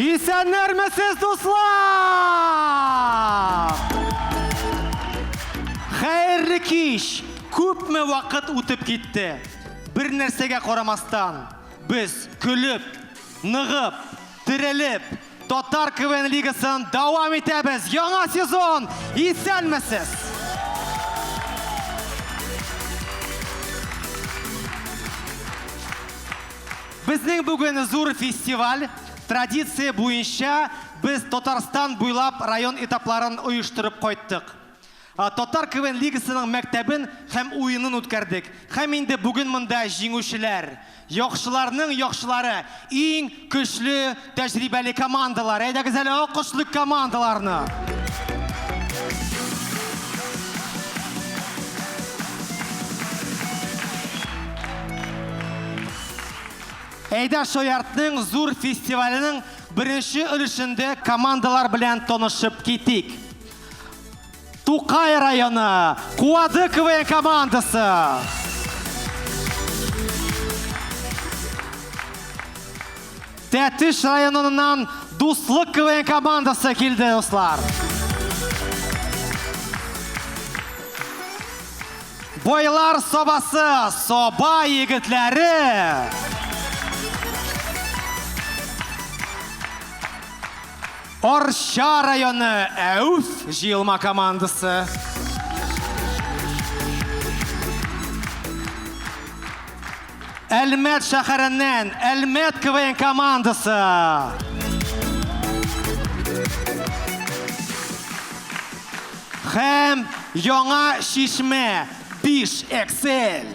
Исәннәрмесез, дуслар! Хәерле кич! Күпме вакыт үтеп китте. Бер нәрсәгә карамастан, без көлеп, ныгып, терелеп, Татар КВН лигасын дәвам итәбез. Яңа сезон! Исәнмесез! Безнең бүген зур фестиваль. Традиция буенча без Татарстан буйлап район этапларын оештырып кайттык. Татар КВН лигасының мәктәбен һәм уенын үткәрдек. Һәм инде бүген монда җиңүчеләр, яхшыларның яхшылары, иң көчле, тәҗрибәле командалар. Әйдәгез әле алкышлыйк командаларны! Әйдә Шаяртның зур фестиваленең беренче өлешендә командалар белән танышып китик. Тукай районы Куады КВН командасы. Тәтеш районыннан Дуслык КВН командасы килде, дуслар. Бойлар собасы, соба егетләре. Арча районы Әүф җыелма командасы. Әлмәт шәһәреннән Әлмәт КВН командасы. Һәм Яңа Чишмә Биш Эксель!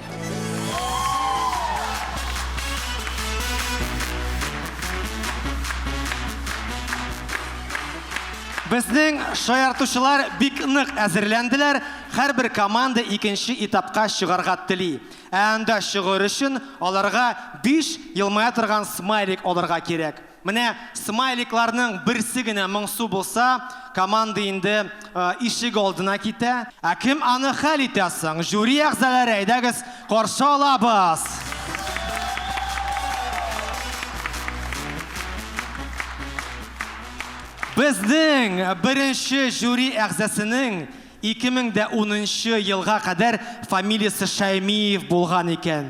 Безнең шаяртучылар бик нык әзерләнделәр, һәрбер команда икенче этапка чыгарга тели. Ә анда чыгыр өчен аларга биш елмая торган смайлик алырга кирәк. Менә смайликларның берсе генә моңсу булса, команда инде ишек алдына китә. Ә кем аны хәл итә соң? Жюри әгъзаләре, әйдәгез, каршы алабыз! Безнең беренче жюри әгъзасының 2010 нчы елга кадәр фамилиясе Шәймиев булган икән.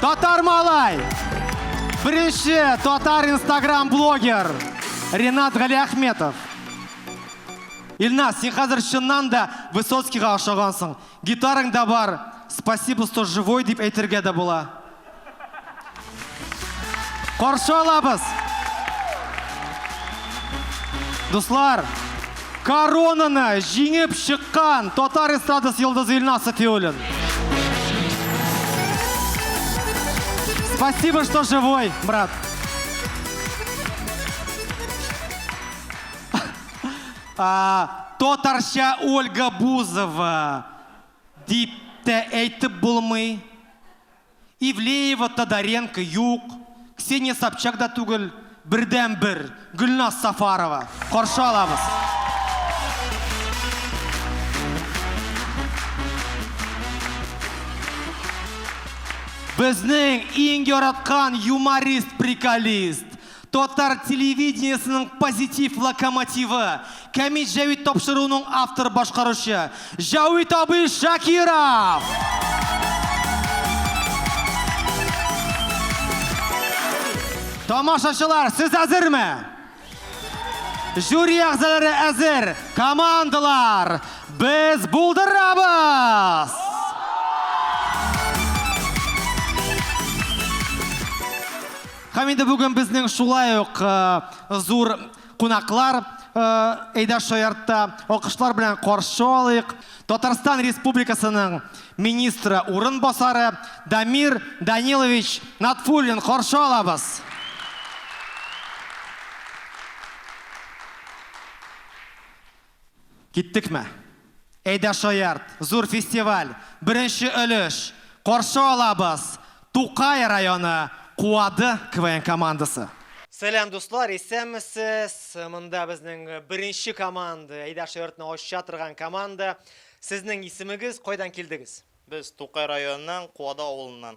Татар малай! Беренче татар инстаграм блогер Ренат Галиахметов. Илназ, син хәзер чыннан да Высоцкийга ошагансың. Гитарың да бар, спасибо, что живой дип әйтергә дә була. Каршы алабыз! Дуслар, коронаны җиңеп чыккан татар эстрадасы йолдызы Илназ Сафиуллин. Спасибо, что живой, брат. А, татарча Ольга Бузова дип тә әйтеп булмый. Ивлеева Тодоренко юк, Ксения Собчак да түгел, бердәнбер, Гөлназ Сафарова. Каршы алабыз! Безнең иң яраткан юморист-приколист! Татар телевидениесенең позитив локомотивы, Камит Җәвит тапшыруының автор башкаручы, Җәвит абый Шакиров! Тамашачылар, сез әзерме? Жюри әгъзалары әзер, командалар, без булдырабыз! Һәм инде бүген безнең шулай ук зур кунаклар Эйда Шаяртта. Алкышлар белән каршы алыйк. Татарстан Республикасының министры урын басары Дамир Данилович Натфуллин каршы алабыз. Киттекме? Әйдә шаярт, зур фестиваль, беренче өлеш, каршы алабыз, Тукай районы Куады КВН командасы. Сәлам дуслар, исәнмесез, монда безнең беренче команда, Әйдә шаяртны ача торган команда. Сезнең исемегез, кайдан килдегез? Без Тукай районыннан, Куады авылыннан.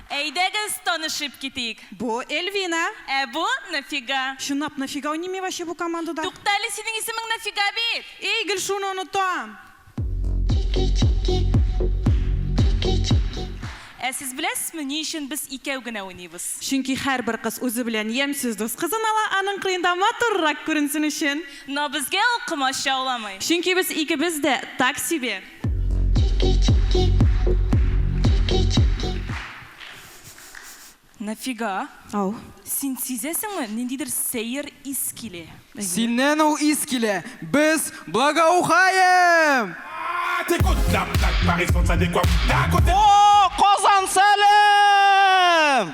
Әйдәгез танышып китик. Бу, Эльвина. Ә бу, Нафига. Чынлап нафига уйныймы ваче бу командада? Туктале, синең исемең Нафига бит! Эй, гел шуны онытам! Ә сез беләсезме, ни өчен без икәү генә уйныйбыз? Чөнки һәрбер кыз үзе белән ямьсез дус кызын ала, аның кырыенда матуррак күренсен өчен. Но безгә ул комачауламый. Чөнки без икебез дә так себе. Нәфига. Ау. Син сизәсеңме, ниндидер сәер ис килә? Синнән ул ис килә. Без благоухаем! О, Казан, сәлам!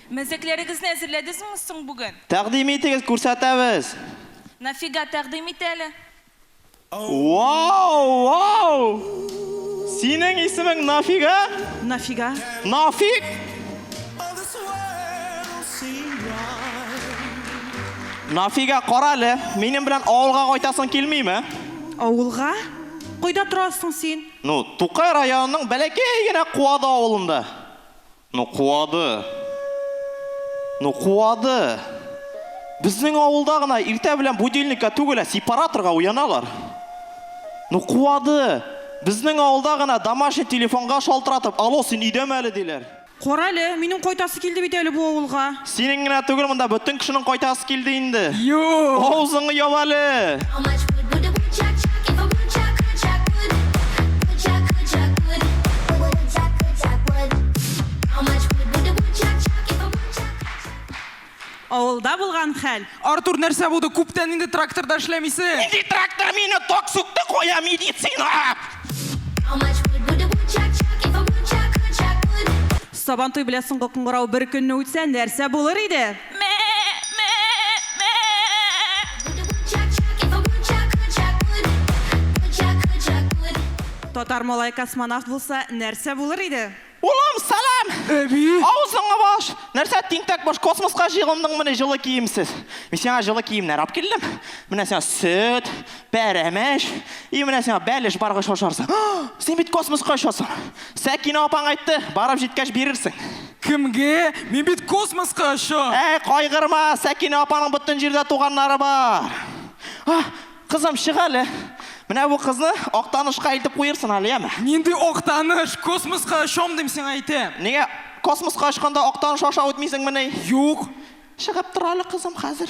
Мәзәкләрегезне әзерләдезме соң бүген? Тәкъдим итегез, күрсәтәбез! Нафига, тәкъдим ит әле! Вау! Вау! Синең исемең Нафига? Нафига. Нафиг? Нафига, кара әле, минем белән авылга кайтасың килмиме? Авылга? Кайда торасың син? Ну, Тукай районының бәләкәй генә Куады авылында. Ну куады! Ну куады! Безнең авылда гына иртә белән будильникка түгел, ә сепараторга уяналар. Ну куады! Безнең авылда гына домашний телефонга шалтыратып, Алло, син өйдәме әле, диләр. Карале, минем кайтасы килде бит әле бу авылга. Синең генә түгел, монда бөтен кешенең кайтасы килде инде. Юк! Авызыңны яб әле! Авылда булган хәл. Артур, нәрсә булды? Күптән инде тракторда эшләмисең. Нинди трактор, мине ток сүкте, кая медицина! Сабантуй белән соңгы кыңгырау бер көнне үтсә, нәрсә булыр иде? Татар малае космонавт булса, нәрсә булыр иде? Улым, сәлам! Әби! Авызыңа баш! Нәрсә тинтәк баш, космоска җыелындыңмыни җылы киемсез? Мин сиңа җылы киемнәр алып килдем. Менә сиңа сөт, Пәрәмәч. И менә сиңа бәлеш баргач ашарсың. Син бит космоска очасың. Сәкинә апаң әйтте, барып җиткәч бирерсең. Кемгә? Мин бит космоска очам. Әй, кайгырма, Сәкинә апаның бөтен җирдә туганнары бар. А, кызым, чык әле. Менә бу кызны Актанышка илтеп куерсын әле, яме? Нинди Актаныш? Космоска очам дим сиңа әйтәм. Нигә космоска очканда Актаныш аша үтмисеңмени? Юк. Чыгып тор әле, кызым, хәзер.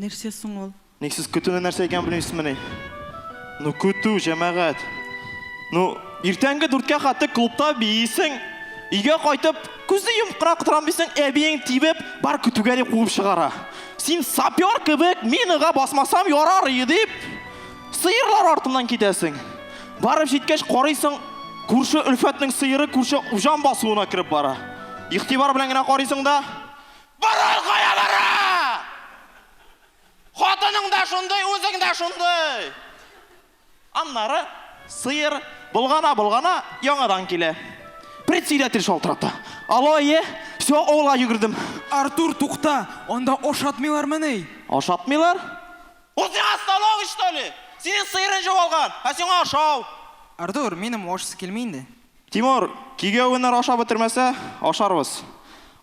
Нәрсә соң ул? Ник сез көтүне нәрсә икәнен белмисезмени? Ну көтү, җәмәгать. Ну, иртәнге дүрткә хәтле клубта биисең, өйгә кайтып, күзне йомып кына торам дисең, әбиең тибеп, бар көтүгә дип куып чыгара. Син сапер кебек, минага басмасам ярар ие дип, сыерлар артыннан китәсең. Барып җиткәч, карыйсың, күрше Өлфәтнең сыеры күрше Уҗан басуына кереп бара. Игътибар белән генә карыйсың да. Борын кая бара? Хатының да шундый, үзең дә шундый! Аннары сыер болгана-болгана яңадан килә. Председатель шалтырата. Алло, әйе, все, авылга йөгердем. Артур, тукта, анда ашатмыйлармыни? Ашатмыйлар? Ул сиңа станок эчтоли? Синең сыерың җуалган, ә сиңа ашау! Артур, минем ашыйсы килми инде. Тимур, кигә уеннар ашап бетермәсә, ашарбыз.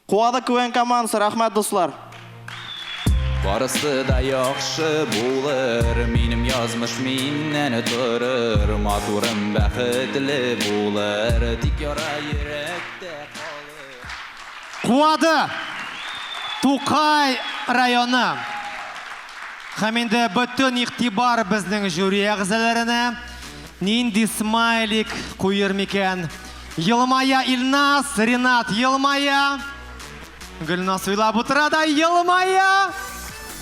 Куады квн командасы, рәхмәт дуслар. Барысы да яхшы булыр, минем язмыш миннән торыр, матурым бәхетле булыр, тик яра йөрәктә калыр. Куады! Тукай районы! Һәм инде бөтен игътибар безнең жюри әгъзаләренә. Нинди смайлик куер микән? Елмая Ильназ, Ринат елмая. Гөлназ уйлап утыра да елмая.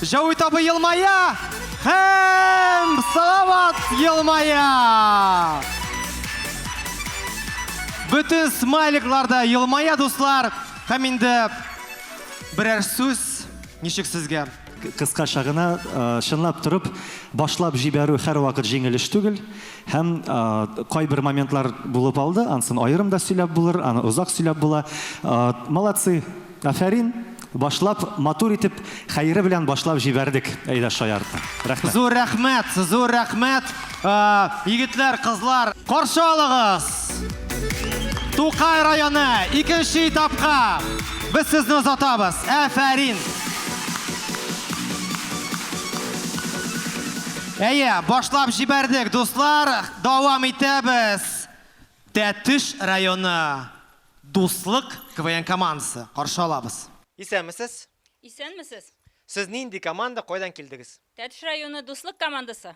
Җәвит абый елмая. Һәм Салават елмая. Бөтен смайликлар да елмая, дуслар. Һәм инде берәр сүз ничек сезгә? Кыскача гына, чынлап торып, башлап җибәрү һәрвакыт җиңел эш түгел. Һәм кайбер моментлар булып алды, ансын аерым да сөйләп булыр, аны озак сөйләп була. Молодцы, афәрин, башлап, матур итеп, хәере белән башлап җибәрдек, Әйдә шаяртма. Рәхмәт. Зур рәхмәт, зур рәхмәт. Егетләр, кызлар, каршы алыгыз! Тукай районы икенче этапка без сезне озатабыз. Әфәрин! Әйе, башлап җибәрдек, дуслар, дәвам итәбез. Тәтеш районы Дуслык КВН командасы, каршы алабыз. Исәнмесез! Исәнмесез! Сез нинди команда, кайдан килдегез? Тәтеш районы Дуслык командасы.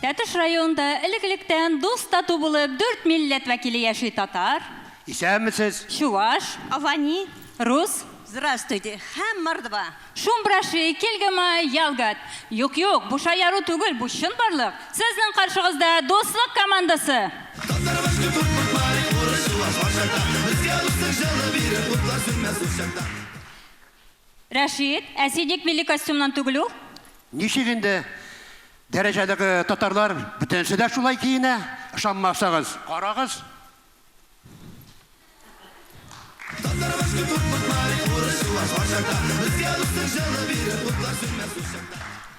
Тәтеш районында элек-электән дус-тату булып дүрт милләт вәкиле яши, татар. Исәнмесез! Чуваш. Авани. Рус, Здравствуйте, һәм мордва, Шум браши, кельгома, ялгат. Юк, юк, бу шаяру түгел, бу чын барлык. Сезнең каршыгызда Дуслык командасы! Татарыбыз күп һәм куркмай, урыс, чуваш, карчакта. Безгә дуслык җылы биреп, утлар сүнмәс ул чакта. Рәшит, ә син ник милли костюмнан түгел ул? Ничек инде, дәрәҗәдәге татарлар бөтенесе дә шулай киенә, ышанмасагыз, карагыз.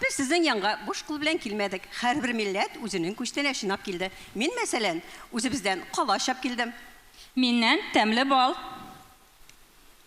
Без сезнең янга буш кул белән килмәдек. Һәрбер милләт үзенең күчтәнә чинап килде. Мин, мәсәлән, үзебездән кала очап килдем. Миннән, тәмле бал.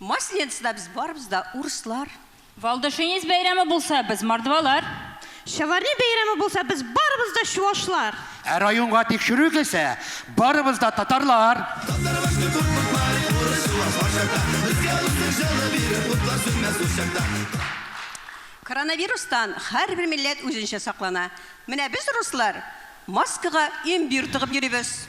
Масленицада без барыбыз да урыслар. Валдашинец бәйрәме булса, без мордвалар. Чаварни бәйрәме булса, без барыбыз да чувашлар. Ә районга тикшерү килсә, барыбыз да татарлар. Татарыбыз бик куркынтмай, урыс чуваш бар чакта. Безгә русның җылы бирер, утлар сүнмәс ул чакта. Коронавирустан һәрбер милләт үзенчә саклана. Менә без руслар маскага им-бир тыгып йөрибез.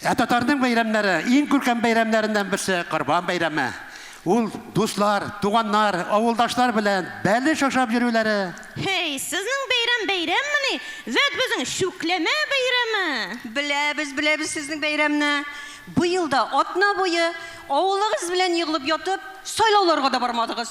Ә татарның бәйрәмнәре, иң күркәм бәйрәмнәреннән берсе, Корбан бәйрәме. Ул дуслар, туганнар, авылдашлар белән бәлеш ашап йөрүләре. Һей, сезнең бәйрәм бәйрәммени? Вәт безнең Чүкләмә бәйрәме! Беләбез, беләбез сезнең бәйрәмне. Быел да атна буе авылыгыз белән егылып ятып, сайлауларга да бармадыгыз.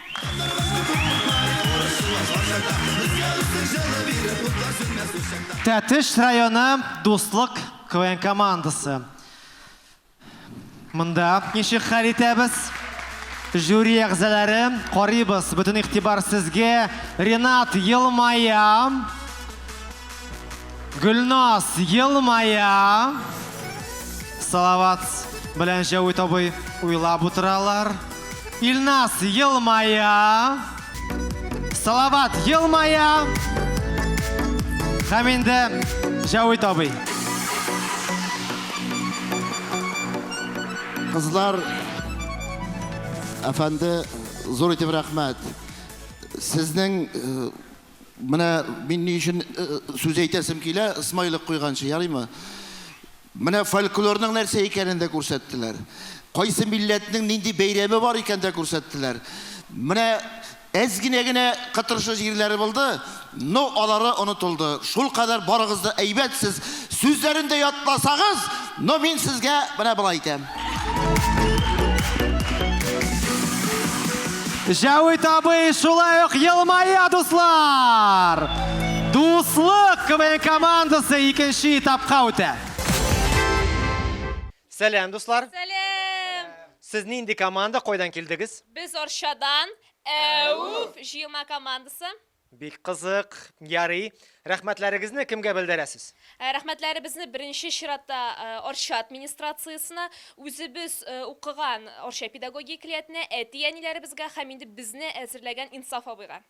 Тәтеш районы Дуслык КВН командасы. Монда ничек хәл итәбез? Жюри әгъзалары, карыйбыз, бөтен игътибар сезгә. Ренат елмая. Гөлназ елмая. Салават белән Җәвит абый уйлап утыралар. Илназ елмая. Салават елмая. Һәм инде Җәвит абый. Кызлар, әфәнде, зур итеп рәхмәт. Сезнең э, Менә мин ни өчен сүз әйтәсем килә, смайлик куйганчы, ярыймы? Менә фольклорның нәрсә икәнен дә күрсәттеләр. Кайсы милләтнең нинди бәйрәме бар икән дә күрсәттеләр. Менә әз генә генә кытыршы җирләре булды, но алары онытылды. Шул кадәр барыгыз да әйбәтсез. Сүзләрен дә ятласагыз, Ну мин сезгә менә болай әйтәм. Җәвит абый шулай ук елмая, дуслар! Дуслык КВН командасы икенче этапка үтә. Сәлам, дуслар! Сәлам! Сез нинди команда, кайдан килдегез? Без Арчадан, Әүф җыелма командасы. Бик кызык. Ярый. Рәхмәтләрегезне кемгә белдерәсез? Ә Рәхмәтләребезне беренче чиратта э, Арча администрациясенә, үзебез э, укыган Арча педагогия көллиятенә, әти-әниләребезгә һәм инде безне әзерләгән Инсаф абыйга.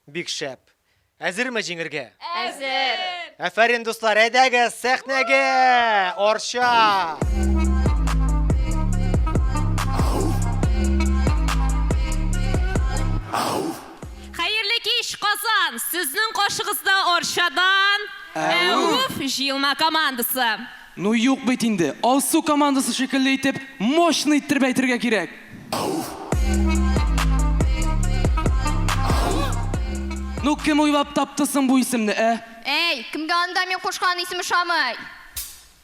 Бик шәп. Әзерме җиңергә? Әзер! Әфәрин, дуслар, әйдәгез сәхнәгә! Арча! Хәерле кич, Казан! Сезнең каршыгызда Арчадан Әүф җыелма командасы. Ну юк бит инде, Алсу командасы шикелле итеп, мощный иттереп әйтергә кирәк. Ну кем уйлап тапты соң бу исемне, ә? Әй, кемгә анда мин кушкан исем ошамый?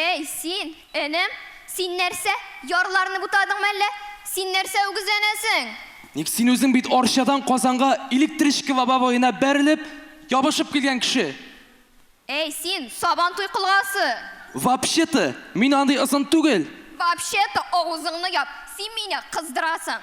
Әй, син, энем, син нәрсә, ярларны бутадыңмы әллә? Син нәрсә үгезләнәсең? Ник, син үзең бит Арчадан Казанга электричка лобовоена бәрелеп, ябышып килгән кеше. Әй, син, сабан туй колгасы! Вообще-то, мин андый озын түгел. Вообще-то, авызыңны яп, син мине кыздырасың.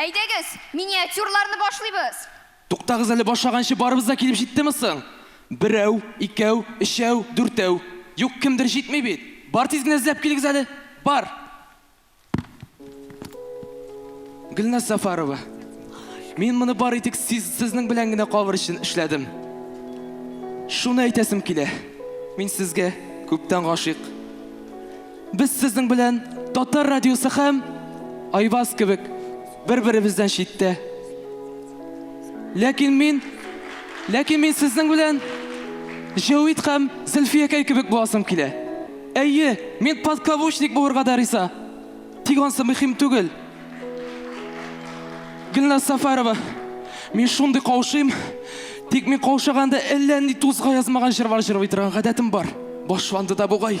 Әйдәгез, миниатюрларны башлыйбыз. Туктагыз әле башлаганчы барыбыз да килеп җиттеме соң? Берәү, икәү, өчәү, дүртәү. Юк, кемдер җитми бит. Бар тиз генә эзләп килегез әле. Бар! Гөлназ Сафарова, мин моны бары тик сиз, сезнең белән генә калыр өчен эшләдем. Шуны әйтәсем килә, мин сезгә күптән гашыйк. Без сезнең белән Татар радиосы һәм Айваз кебек бер-беребездән читтә. Ләкин мин, ләкин мин сезнең белән Җәвит һәм Зөлфиякәй кебек буласым килә. Әйе, мин подкаблучник булырга да риза. Тик ансы мөһим түгел. Гөлназ Сафарова, мин шундый каушыйм, тик мин каушаганда әллә нинди тузга язмаган җырлар җырлый торган гадәтем бар. Башланды да бугай.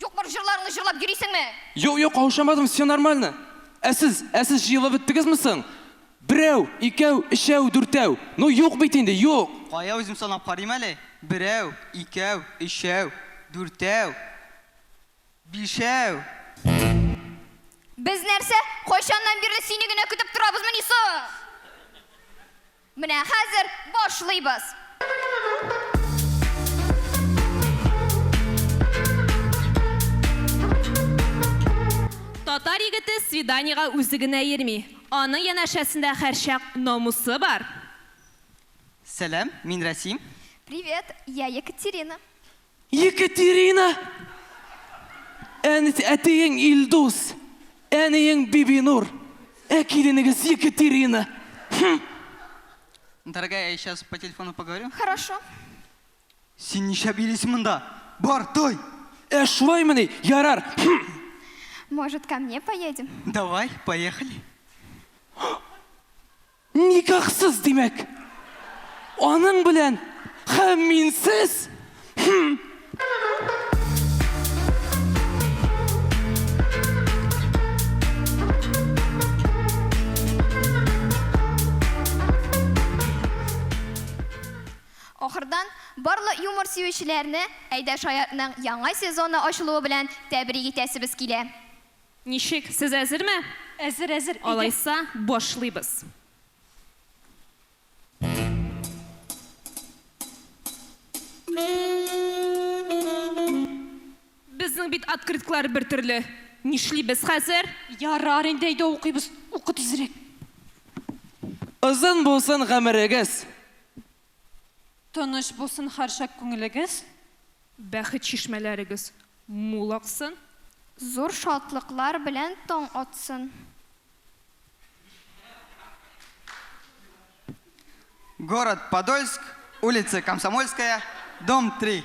Юк бар җырларыңны җырлап йөрисеңме? Юк юк каушамадым все нормально. Ә сез, ә сез җыелып беттегезме соң? Берәү, икәү, өчәү, дүртәү. Ну юк бит инде, юк! Кая үзем санап карыйм әле. Берәү, икәү, өчәү, дүртәү, бишәү. Без нәрсә, кайчаннан бирле сине генә көтеп торабызмыни соң? Менә хәзер башлыйбыз! Татар егете свиданиегә үзе генә йөрми, аның янәшәсендә һәрчак намусы бар. Сәлам, мин Рәсим. Привет, я Екатерина. Екатерина, әтиең Илдус, әниең Бибинур, ә киленегез Екатерина. Хм. Дорогая, я сейчас по телефону поговорю. Хорошо. Син нишләп йөрисең монда? Бар, той! Ә шулаймыни? Ярар. Может, ко мне поедем? Давай, поехали. Никахсыз, димәк. Аның белән һәм минсез? Хм. Ахырдан, барлык юмор сөючеләрне Әйдә шаяртның яңа сезоны ачылуы белән тәбрик итәсебез килә. Ничек, сез әзерме? Әзер, әзер, әйдә. Алайса, башлыйбыз. Безнең бит открытклар бер төрле. Нишлибез хәзер? Ярар инде, әйдә укыйбыз. Укы тизрәк. Озын булсын гомерегез! Тыныч булсын һәрчак күңелегез. Бәхет чишмәләрегез мул аксын. Зур шатлыклар белән таң атсын. Город Подольск, улица Комсомольская, дом 3.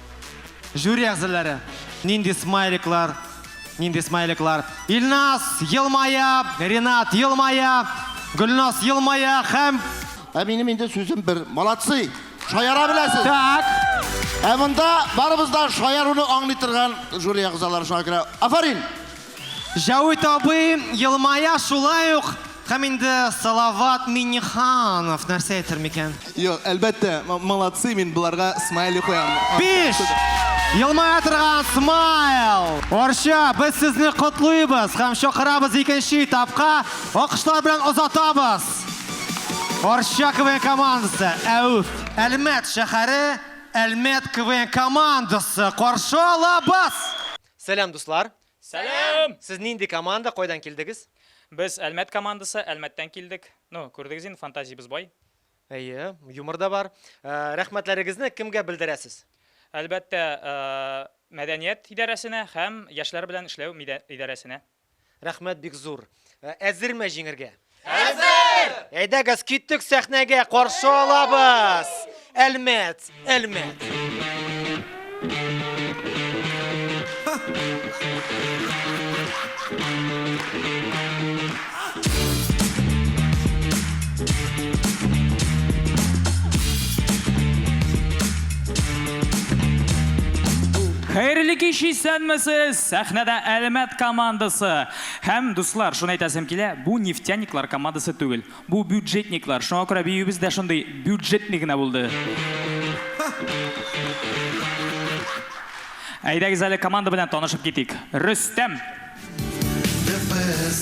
Жюри әгъзалары, нинди смайликлар, нинди смайликлар. Илназ елмая, Ренат елмая, Гөлназ елмая һәм... Ә минем инде сүзем бер. Молодцы! Шаяра беләсез! Так! Ә монда барыбыз да шаяруны аңлый торган жюри әгъзалары шуңа күрә. Афарин! Җәвит абый елмая шулай ук һәм инде Салават Миннеханов нәрсә әйтер микән? Юк, әлбәттә, молодцы, мин боларга смайлик куям. Биш! Елмая торган смайл! Арча, без сезне котлыйбыз һәм чакырабыз икенче этапка. Алкышлар белән озатабыз! Арча КВН командасы, әүф! Әлмәт шәһәре, Әлмәт КВН командасы каршы алабыз! Сәлам дуслар! Сәлам! Сез нинди команда, кайдан килдегез? Без Әлмәт командасы, Әлмәттән килдек. Ну, күрдегез инде, фантазиябез бай. Әйе, юмор да бар. Ә, Рәхмәтләрегезне кемгә белдерәсез? Әлбәттә, ә, мәдәният идарәсенә һәм яшьләр белән эшләү мидә- идарәсенә. Рәхмәт бик зур. Ә, Әзерме җиңергә? Әзер! Әйдәгез, киттек сәхнәгә, каршы алабыз! Әлмәт, Әлмәт! Хәерле кич, исәнмесез! Сәхнәдә Әлмәт командасы! Һәм, дуслар, шуны әйтәсем килә, бу нефтяниклар командасы түгел, бу бюджетниклар, шуңа күрә биюебез дә шундый бюджетный генә булды. Әйдәгез әле команда белән танышып китик. Рөстәм! Нәфес!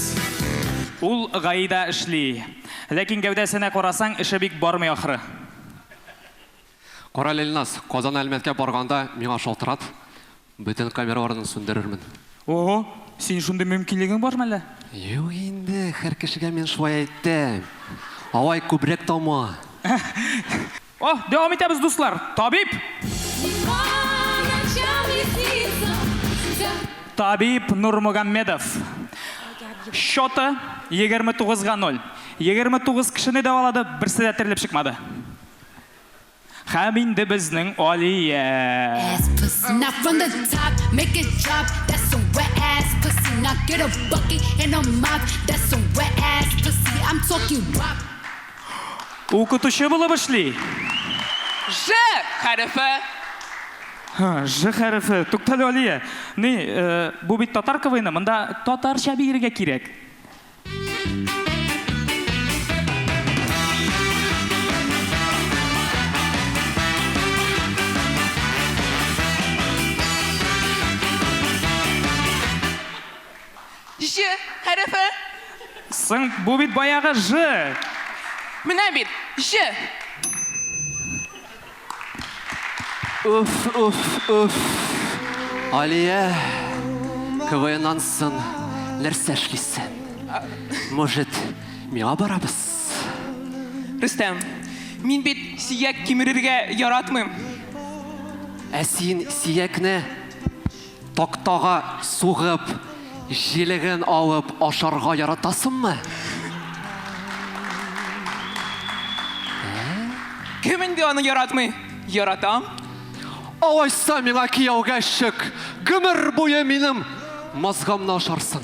Ул ГАИда эшли. Ләкин гәүдәсенә карасаң, эше бик бармый ахры. Карале, Ильназ, Казан Әлмәткә барганда миңа шалтырат. Бөтен камераларны сүндерермен. Ого, синең шундый мөмкинлегең бармы әллә? Юк инде, һәр кешегә мин шулай әйтәм. Алай күбрәк тама. О, дәвам итәбез, дуслар. Табиб! Табиб Нурмугаммедов. Счеты, 29 га 0. 29 кешене дәвалады, берсе дә терелеп чыкмады. Һәм инде безнең Алия. Укытучы булып эшли. Ж хәрефе. Һа, ж хәрефе. Туктале, Алия. Ни, бу бит татар КВНы, монда татарча биергә кирәк. Ж хәрефе. Соң, бу бит баягы ж. Менә бит, ж. Уф, уф, уф. Алия, КВНнан сон нәрсә эшлисен? Может, миңа барабыз? Рөстәм, мин бит сияк кимерергә яратмыйм. Ә син сиякне Тактага сугып, җилеген алып ашарга яратасыңмы? Кем инде аны яратмый? Яратам. Алайса миңа кияүгә чык, гомер буе минем мазгамны ашарсың.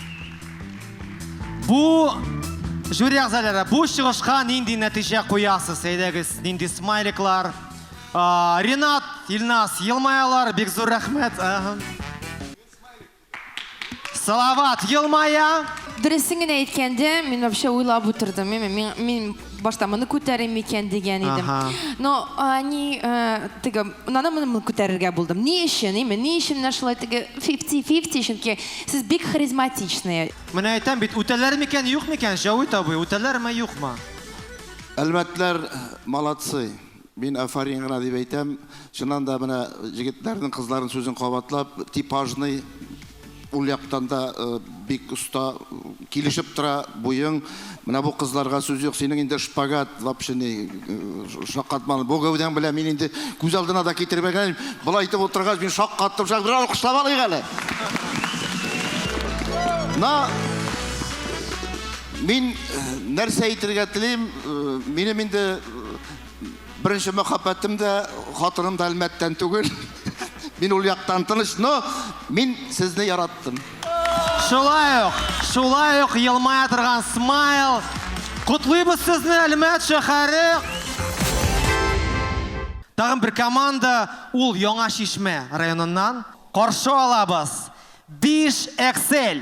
Бу жюри әгъзалары бу чыгышка нинди нәтиҗә куясыз? Әйдәгез, нинди смайликлар? Ренат, Илнас, елмаялар, бик зур рәхмәт. Салават, елмая. Дөресен генә әйткәндә, мин вообще уйлап утырдым. Мин башта моны күтәрим микән дигән идем. Но они э, теге наны моны күтәрергә булдым. Ни өчен? Име, ни өчен менә шулай теге 50-50 чөнки сез бик харизматичный. Менә әйтәм бит, үтәләр микән, юк микән, Җавит абый, үтәләрме, юкмы? Әлмәтләр э, молодцы. Мин афарин гына дип әйтәм, чыннан да менә җегетләрнең, кызларның сүзен кабатлап, типажный, ул яктан да бик оста, килешеп тора буең. Менә бу кызларга сүз юк, синең инде шпагат вообще ни, шаккатманы. Бу гәүдәң белән мин инде күз алдына да китереп әйтәм, болай итеп утыргач мин шаккаттым, шак, бер алкышлап алыйк әле. На, мин нәрсә әйтергә телим, минем инде, Беренче мәхәббәтем дә, хатыным да Әлмәттән түгел. Мин ул яктан тыныч, но мин сезне яраттым. Шулай ук, шулай ук елмая торган смайл. Котлыйбыз сезне, Әлмәт шәһәре. Тагын бер команда, ул Яңа Шишмә районыннан. Каршы алабыз. Биш Эксель.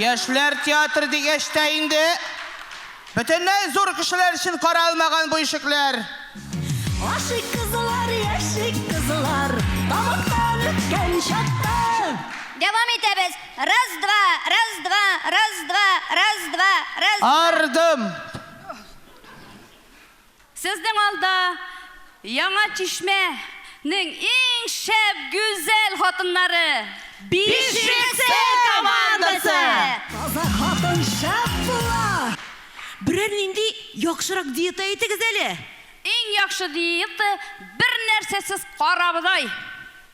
Яшьләр театры дигәч тә инде, бөтенләй зур кешеләр өчен каралмаган бу ишекләр. Ашыйк кызлар, яшик кызлар, тамактан үткән чакта. Дәвам итәбез. Раз, два, раз, два, раз, два, раз, два, раз, два. Ардым. Сезнең алда Яңа Чишмә нең иң шәп, гүзәл хатыннары! Бишексе командасы! Таза хатын шәп була! Берәр нинди яхшырак диета әйтегез әле! Иң яхшы диета, бернәрсәсез карабодай!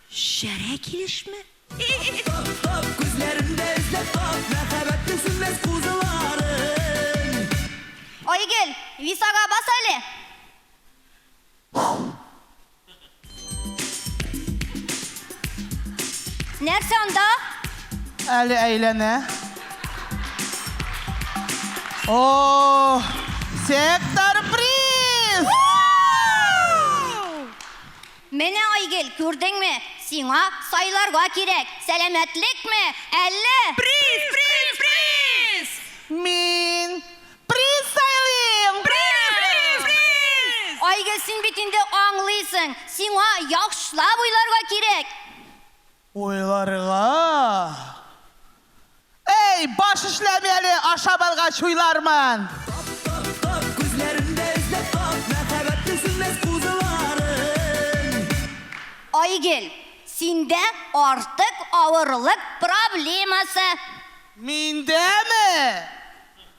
Шәрә килешме? Айгөл, висага бас әле! Нәрсә анда? Әле әйләнә. О, сектор Менә, Айгөл, күрдеңме? Сиңа сайларга кирәк, сәламәтлекме, әллә. Приз! Приз! Приз! Мин приз сайлыйм! Приз! Приз! Приз! Айгөл, син бит инде аңлыйсың, сиңа яхшылап уйларга кирәк. Уйларга. Әй, баш эшләми әле, ашап алгач уйлармын. Тап, тап, тап, күзләремдә эзләп тап, мәхәббәтнең сүнмәс кузыларын. Айгөл, синдә артык авырлык проблемасы. Миндәме?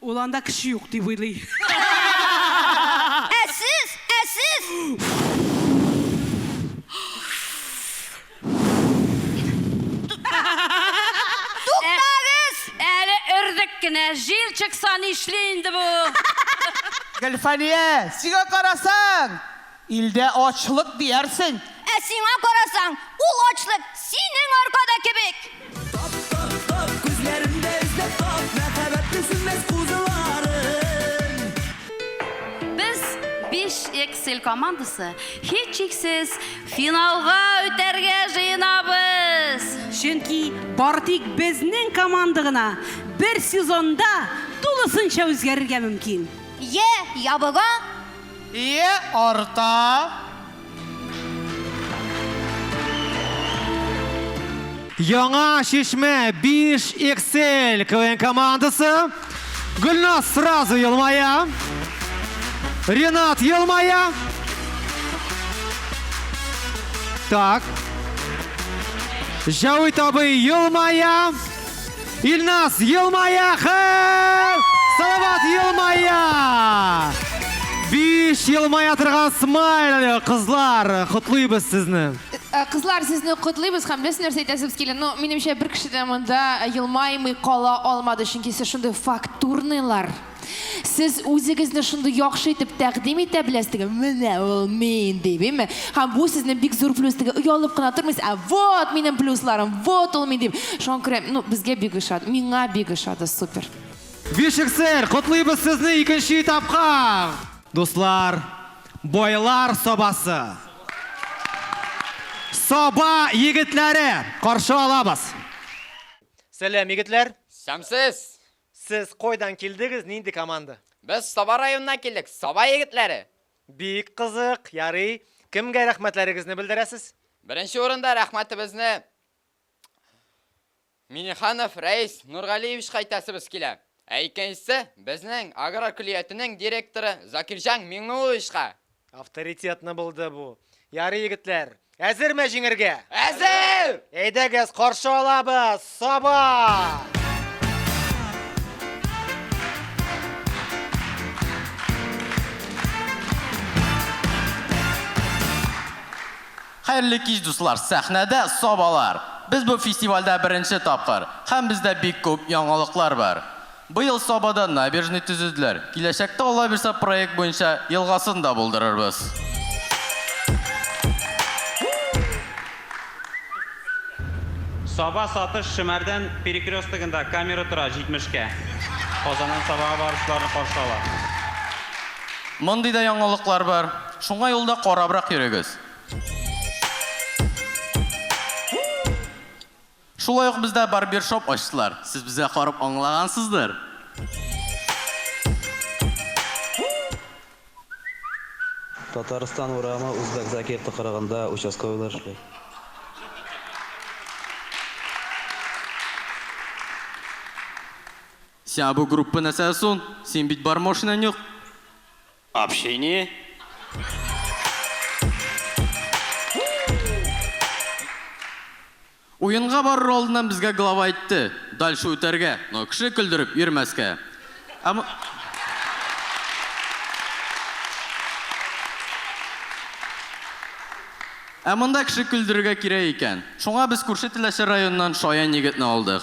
Ул анда кеше юк дип уйлый. Ә сез? Ә сез? Туктагыз! Әле өрдек кенә, җил чыкса нишли инде бу? Гөлфания, сиңа карасаң! Илдә ачлык диярсең. Ә сиңа карасаң, ул ачлык синең аркада кебек! Тап, тап, тап, күзләремдә эзләп тап, мәхәббәтнең сүнмәс кузыларын. Без, биш XL командасы, һичшиксез, финалга үтәргә җыенабыз! Чөнки бары тик безнең команда гына бер сезонда тулысынча үзгәрергә мөмкин! Йә, ябыга, Ие арта. Яңа Чишмә 5 XL КВН командасы. Гөлназ сразу елмая. Ренат елмая. Так. Җәвит абый елмая. Илназ, елмая, хәл! Салават, елмая! Биш елмая торган смайл, кызлар, котлыйбыз сезне. Э, Кызлар, сезне котлыйбыз һәм без нәрсә әйтәсез килә. Ну, минемчә, бер кеше дә монда елмаймый кала алмады, чөнки сез шундый фактурныйлар. Сез үзегезне шундый яхшы итеп тәкъдим итә беләсезгә, менә ул мин дип, име? Һәм бу сезнең бик зур плюс дип оялып кына тормыйсыз, ә вот минем плюсларым, вот ул мин дип. Шуңа күрә, ну, безгә бик ошады, миңа бик ошады, супер. Бишексер, котлыйбыз сезне икенче этапка! Дуслар, байлар сабасы! Саба егетләре, каршы алабыз! Сәлам, егетләр! Сәмсез! Сез койдан килдегез, нинди команда? Без Саба районыннан килдек, Саба егетләре! Бик кызык, ярый. Кемгә рәхмәтләрегезне белдерәсез? Беренче урында рәхмәтебезне Минеханов Рәис Нургалиевичка әйтәсебез килә. Ә икенчесе, безнең аграр көллиятенең директоры Закирҗан Миңнулловичка! Авторитетны булды бу. Ярый, егетләр, әзерме җиңергә? Әзер! Әйдәгез, каршы алабыз! Саба! Хәерле кич, дуслар! Сәхнәдә Сабалар! Без бу фестивальдә беренче тапкыр, һәм бездә бик күп яңалыклар бар. Быел Сабада набережный төзеделәр. Киләчәктә Алла бирса проект буенча елгасын да булдырырбыз. Саба Сатыш Шөмәрдән перекрестогында камера тора 70 кә. Казаннан Сабага баручыларны каршы ала. Мондый да яңалыклар бар. Шуңа юлда карабрак йөрегез. Шулай ук бездә барбершоп ачтылар. Сез безгә карап аңлагансыздыр. Татарстан урамы Узбәк Закир тыкрыгында участковыйлар эшли. Сиңа бу группа нәрсә сон? Синең бит бармошинан юк. Общение. Уенга барыр алдыннан безгә глава әйтте, дальше үтәргә, но кеше көлдереп йөрмәскә. Ә мо Ә монда кеше көлдерергә кирәк икән. Шуңа без күрше Теләче районыннан шаян егетне алдык.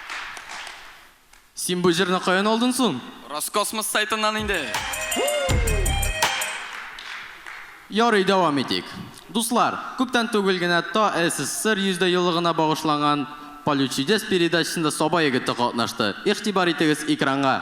Син бу җырны каян алдын сон? Роскосмос сайтыннан инде! Ярый, дәвам итик. Дуслар, күптән түгел генә Та СССР 100 дә еллыгына багышланган Поле чудес передачасында Саба егете катнашты. Игътибар итегез экранга!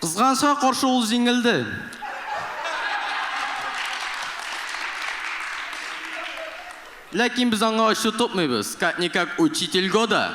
Кызганычка каршы ул җиңелде. Ләкин без аңа ачу тотмыйбыз, как-никак учитель года!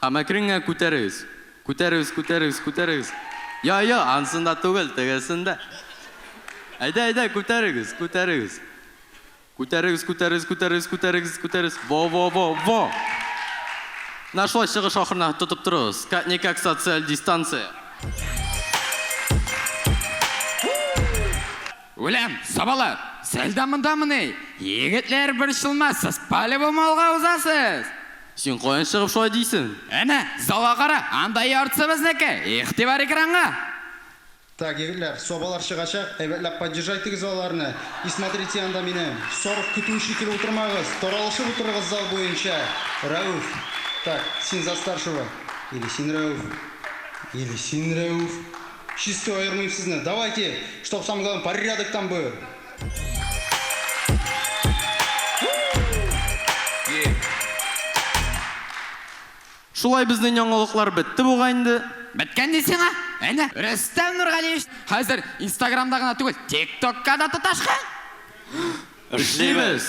Һәм әкренгә күтәрегез. Күтәрегез, күтәрегез, күтәрегез. Йа, йа, ансында түгел, тегесендә. Әйдә, әйдә, күтәрегез, күтәрегез. Күтәрегез, күтәрегез, күтәрегез, күтәрегез, күтәрегез. Во, во, во, во! Менә шулай чыгыш ахырына тотып торыгыз. Как-никак социаль дистанция. Үләм, сабалар! Сез дә мондамыни? Егетләр, борчылмасыз, по-любому алга узасыз! Син каян чыгып шулай дисең? Әнә, залга кара, анда яртысы безнеке! Игътибар экранга! Так, егетләр, собалар чыгачак, әйбәтләп поддержайтегез аларны. И смотрите анда мине. Сарык көтүе шикелле утырмагыз, таралышып утырыгыз зал буенча. Рәүф. Так, син за старшего. Или син Рәүф. Или син Рәүф. Чистый аермыйм сезне. Давайте, чтоб самое главное порядок там был. Шулай безнең яңалыклар бетте бугай инде. Беткән ди сиңа? Әнә, Рөстәм Нургалиевич хәзер Инстаграмда гына түгел, ТикТокка да тоташкан. Эшлибез!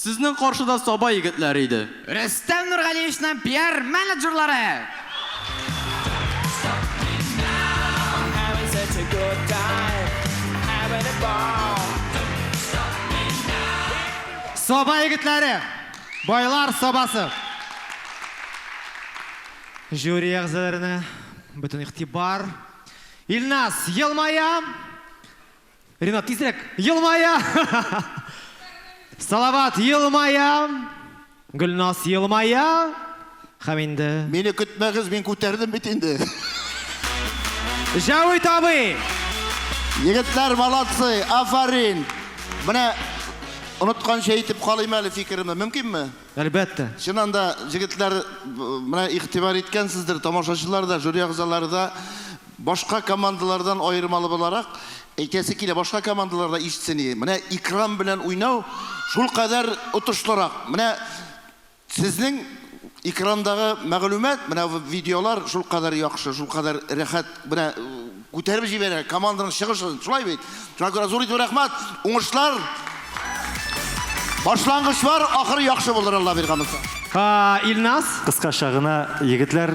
Сезнең каршыда саба егетләре иде. Рөстәм Нургалиевичның пиар-менеджерлары! Саба егетләре! Байлар сабасы! Жюри әгъзаларына бөтен игътибар. Илназ, елмая! Ренат, тизрәк! Елмая! Салават, елмая! Гөлназ, елмая! Хәм инде... Мине көтмәгез, мин күтәрдем бит инде. Җәвит абый! Егетләр, молодцы, афарин! Менә онытканча әйтеп калыйм әле фикеремне, мөмкинме? Әлбәттә. Чыннан да, җегетләр, менә игътибар иткәнсездер, тамашачылар да, жюри әгъзалары да, Башка командалардан аермалы буларак әйтәсе килә, башка командалар да ишетсен иде. Менә Икрам белән уйнау шулкадәр отышлырак. Менә сезнең экрандагы мәгълүмат, менә видеолар шулкадәр яхшы, шулкадәр рәхәт, менә күтәреп җибәрә команданың чыгышын. Шулай бит? Шуңа күрә зур итеп рәхмәт, уңышлар! Башлангыч бар, ахыры яхшы булыр, Алла биргән булса. Илназ! Кыскача гына, егетләр.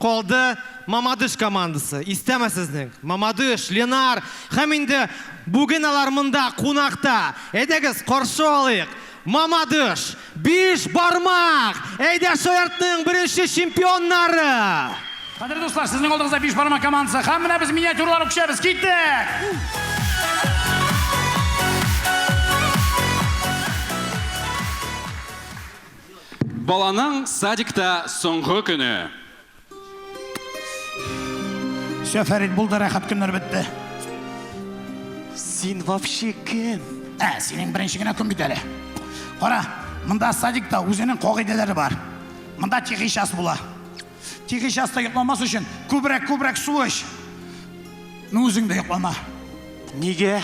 Калды Мамадыш командасы. Истәме сезнең? Мамадыш, Ленар һәм инде бүген алар монда кунакта. Әйдәгез, каршы алыйк! Мамадыш! Биш бармак! Әйдә шаяртның беренче чемпионнары! Кадерле дуслар, сезнең алдыгызда Биш бармак командасы һәм менә без миниатюралар үкчәбез. Киттек! Баланың садикта соңгы көне. Все, Фәрит, булды, рәхәт көннәр бетте. Син вообще кем? Ә, синең беренче генә көн бит әле. Кара, монда садикта үзенең кагыйдәләре бар. Монда тихий час була. Тик эч аста йокламас өчен күбрәк, күбрәк су эч. Ну үзең дә йоклама. Нигә?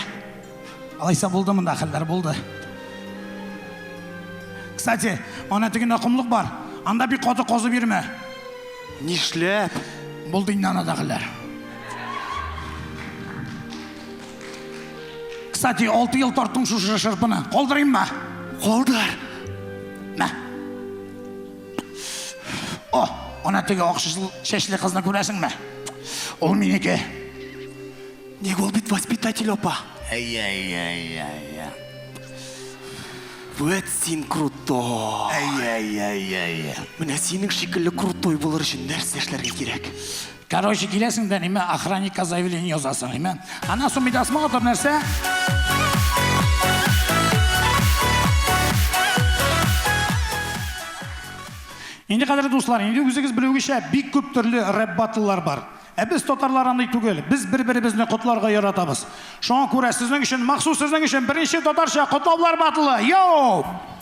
Алайса булды монда хәлләр, булды. Кстати, ана тегендә комлык бар. Анда бик каты казып йөрмә. Нишләп? Булды инде анада хәлләр. Кстати, алты ел тарттың шушы шырпыны. Калдырыйммы? Калдыр. Мә. О, ана теге ак чәчле кызны күрәсеңме? Ул минеке. Ник ул бит воспитатель апа. Әй-әй-әй-әй. Вот син крутой. Әй-әй-әй-әй. Менә синең шикелле крутой булыр өчен нәрсә эшләргә кирәк? Короче, киләсең дә ниме охранникка заявление язасың, ниме? Аннан соң бит асма атып нәрсә? Инде кадәр дуслар, инде үзегез белүегезчә бик күп төрле рэп батллар бар. Ә без татарлар андый түгел. Без бер-беребезне котларга яратабыз. Шуңа күрә сезнең өчен, махсус сезнең өчен беренче татарча котлаулар батлы. Йоу!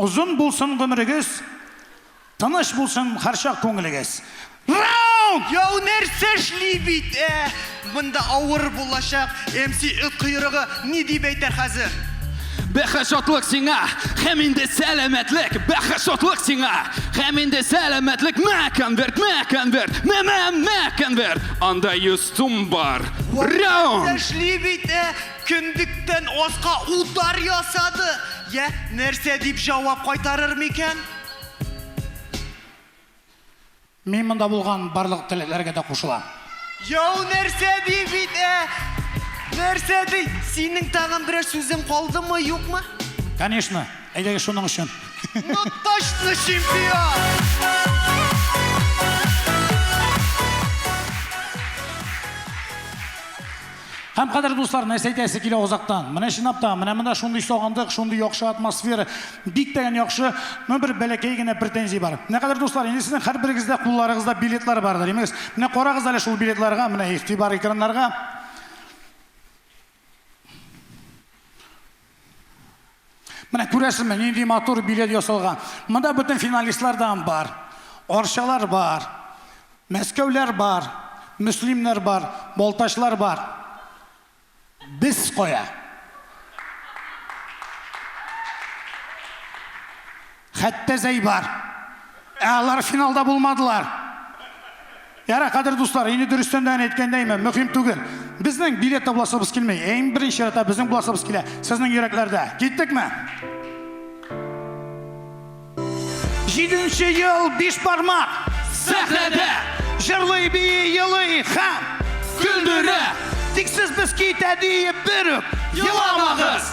Озын булсын гомерегез, тыныч булсын һәрчак күңелегез. Раунд! Яу нәрсә эшли бит, ә? Монда авыр булачак. МС эт койрыгы ни дип әйтер хәзер? Бәхет шатлык сиңа, һәм инде сәламәтлек. Бәхет шатлык сиңа, һәм инде сәламәтлек. Мә конверт, мә конверт, мә мә мә конверт. Анда 100 сум бар. Раунд! Нәрсә эшли бит, ә? Кендектән аска удар ясады. Йә, нәрсә дип җавап кайтарыр микән? Мин монда булган барлык теләкләргә дә кушылам. Яу нәрсә ди бит, ә? Нәрсә ди? Синең тагын берәр сүзең калдымы, юкмы? Конечно, әйдәгез шуның өчен. Ну точно чемпион! Һәм, кадерле дуслар, нәрсә әйтәсе килә озактан. Менә чынлап та, менә монда шундый сагындык, шундый яхшы атмосфера, бик тә яхшы, ну бер бәләкәй генә претензия бар. Менә, кадерле дуслар, инде сезнең һәрберегездә кулларыгызда билетлар бардыр, имегез. Менә карагыз әле шул билетларга, менә игътибар экраннарга. Менә күрәсезме, нинди матур билет ясалган. Монда бөтен финалистлар да бар. Арчалар бар, Мәскәүләр бар, Мөслимнәр бар, Балтачлар бар. Без кая? Хәтта Зәйбар. Ә алар финалда булмадылар. Яра, кадер дуслар, инде дөрестән дә әйткәндәйме, мөһим түгел. Безнең билет табласыбыз килми. Ә иң беренче чиратта безнең буласыбыз килә. Сезнең йөрәкләрдә. Киттекме? Җиденче ел биш бармак сәхнәдә Җырлый бии елый һәм көлдерә Тик сез без китә диеп бер үк еламагыз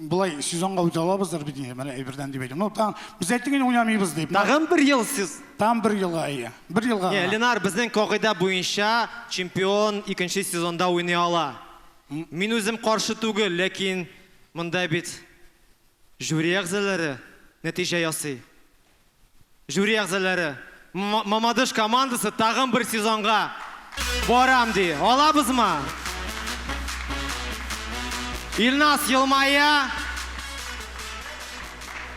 Болай сезонга үтә алабыздыр бит инде, менә әйбердән дип әйтәм. Ну, там без әйттек инде уйнамыйбыз дип. Тагын бер ел сез. Там бер елга әйе. Бер елга. Не, Ленар, безнең кагыйдә буенча чемпион икенче сезонда уйный ала. Мин үзем каршы түгел, ләкин монда бит жюри әгъзалары нәтиҗә ясый. Жюри әгъзалары, Мамадыш командасы тагын бер сезонга барам ди. Алабызмы? Илназ елмая.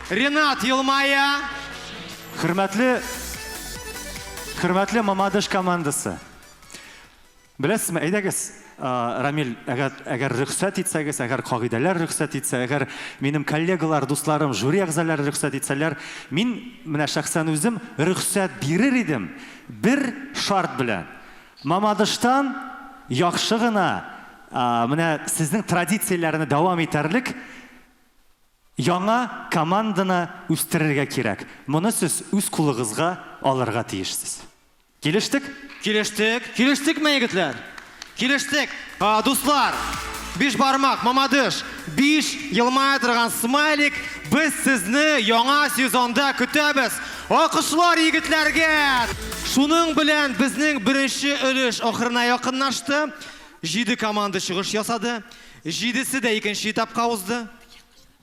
Ренат елмая. Хөрмәтле, хөрмәтле Мамадыш командасы. Беләсезме, әйдәгез, Рамил, әгәр, әгәр рөхсәт итсәгез, әгәр кагыйдәләр рөхсәт итсә, әгәр минем коллегалар, дусларым, жюри әгъзалары рөхсәт итсәләр, мин менә шәхсән үзем рөхсәт бирер идем, бер шарт белән. Мамадыштан яхшы гына, менә сезнең традицияләрне дәвам итәрлек яңа команданы үстерергә кирәк. Моны сез үз кулыгызга алырга тиешсез. Килештек? Килештек. Килештекме, егетләр? Килештек. Дуслар, биш бармак, мамадыш, биш елмая торган смайлик, без сезне яңа сезонда көтәбез! Алкышлар егетләргә! Шуның белән безнең беренче өлеш ахырына якынлашты. Җиде команда чыгыш ясады. Җидесе дә икенче этапка узды.